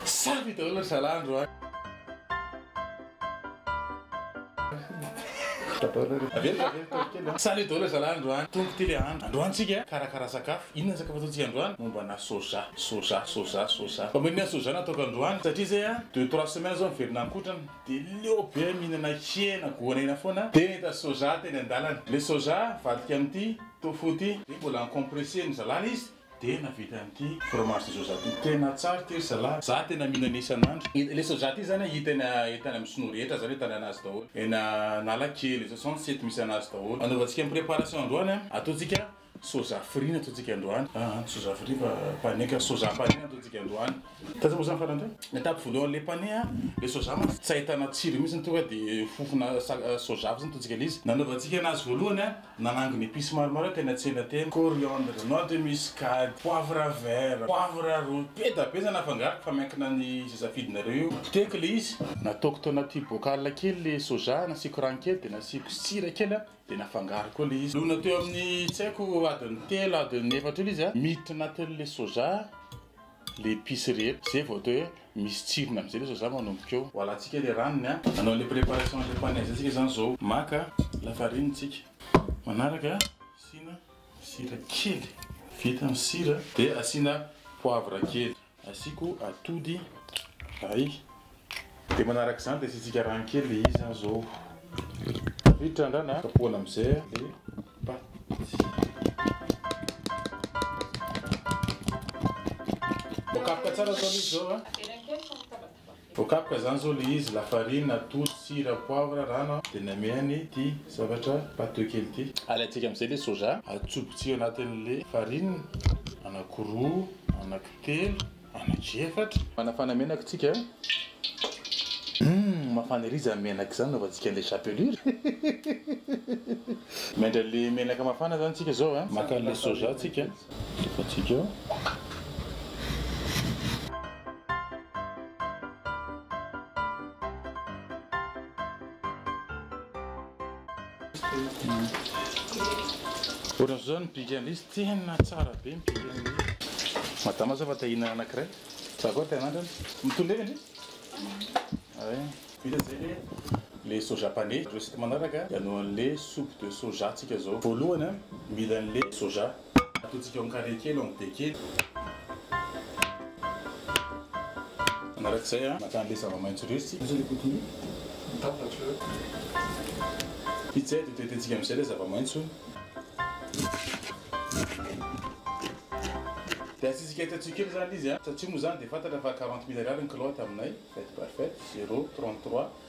Sampy daholo ry zalahy andro an. Averiko averiko kely kely an. Salut daholo ry zalahy andro an. Tonga ity le andro. Androany tsika karakara sakafo. Inona ny sakafo ataontsika androany? Momba ana soja. Soja soja soja. Fa maninona soja no ataoko androany? Satria zay an deux trois semaines zao miverina ankotrana de leo be an mihinana hena goanaina foana de nahita soja teny andalana. Le soja avadika amin'ity tofu ity. Mbola en compresse ny zalahy izy. Dia nahavita an'ity fromage de soja ity. Tena tsara ity ry zalahy. Za tena mihinana isan'andro. Ilay soja ity zany hita eny eny tany amin'ny sinoa rehetra zany ahitana azy daholo. Eny analakely, zao zao ny site misy anazy daholo. Anaovantsika préparation androany an, ataontsika soja fry ny ataontsika androany. An, soja fry fa panenka, soja panenka ny ataontsika androany. Taiza moa zany farany teo? Étape voalohany le pané a, le soja mantsy tsy ahitana tsirony mintsy ny tonga de fofona soja fotsiny ataontsika le izy. Nanaovantsika anazy voalohany a, nanangona épices maromaro teny an-tsena teny, coriandre, noix de muscade, poivre vert, poivre rouge, be da be zany afangaroko fa miankina ny ze safidinareo io. Potehiko le izy. Nataoko tao anaty bocal kely le soja, nasiako rano kely de nasiako sira kely a, de nafangaroko ao le izy. Lona teo amin'ny tsy haiko adiny telo adiny efatra eo le izy a, miditra anatin'le soja. le epice rehetra zay vao atao hoe misy tsirony amizay lesy za manomboka eo. Ho alantsika le ranony a. Hanao le préparation anle pane zay tsika zany zao. Maka la farine tsika. Manaraka asiana sira kely. Vita ny sira de asiana poivre kely. Asiako atody ray. Dia manaraka izany dia asiantsika rano kely iza zao. Tafiditra ny rano a. Kapohana amin'izay ilay paty. Voakapoka tsara zao ilay izy zao a. Voakapoka izany zao ilay izy, lafarina, atody, sira, poivre, rano a. Dia namehana ity zavatra pâteux kely ity. Alaintsika amin'izay ilay soja, atsobotsika anatin'ilay farine, anakiroa, anakitelo. Anaky efatra. Manafana menaka isika. Humm mafana ery izany menaka izany anaovantsika an'ilay chapelure. Mendry an'ilay menaka mafana izany isika izao a. Maka an'ilay soja isika. Alefantsika ao. Ohatran'izao ny big and lisy tena tsara be ny big and lisy. Madama zao efa te hihinana anakiray. Za koa te hanandrana. Mitondra eo ve ndry? Ay. Vita izay le le soja pane. Recette manaraka hianohan'le soupe de soja tsika zao. Voalohany mila an'le soja. Ataontsika ao carré kely ao be kely. Manarak'izay maka an'ilay zava-maitso resy. Izay dia hotetehintsika amin'izay ilay zava-maitso. Dia asiantsika etantsio kely izany ilay izy. Satria moa izany dia fantatra fa quarante mille ariary ny kilaoty aminay. Faites par faites, zero, trente trois,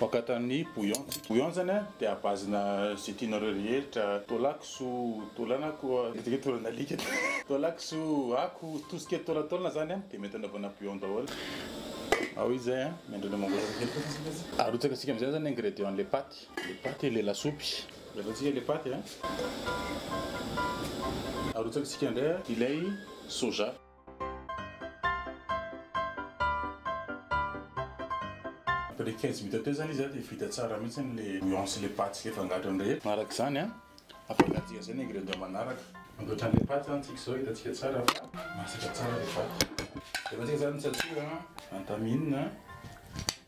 Vokatra ny bouillon tsika. Bouillon zany a de à base na ze tianareo rehetra, taola kisoa, taola na koa eto zao taola nalika, taola kisoa, ako, tout ce qui est taolataolana zany a de mety anaovana bouillon daholo. Ao izy zay a, miandry mangoraka kely koa tsika zay. Arotsaka tsika amizay zany ingredient le paty, le paty, le lasopy. Jereo tsika le paty a. Arotsaka tsika ndray a ilay soja. Après le quinze minutes teo zany izy dia vita tsara mihitsy le bouillon sy le paty sy le fangatrony rehetra. Araka izany, afangaro izay ny ingrédients manaraka. Ankoatran'ny le paty zany tsika izao hitantsika tsara fa masaka tsara le paty. Rehefa tsika zany mitsatsoka, antaminina.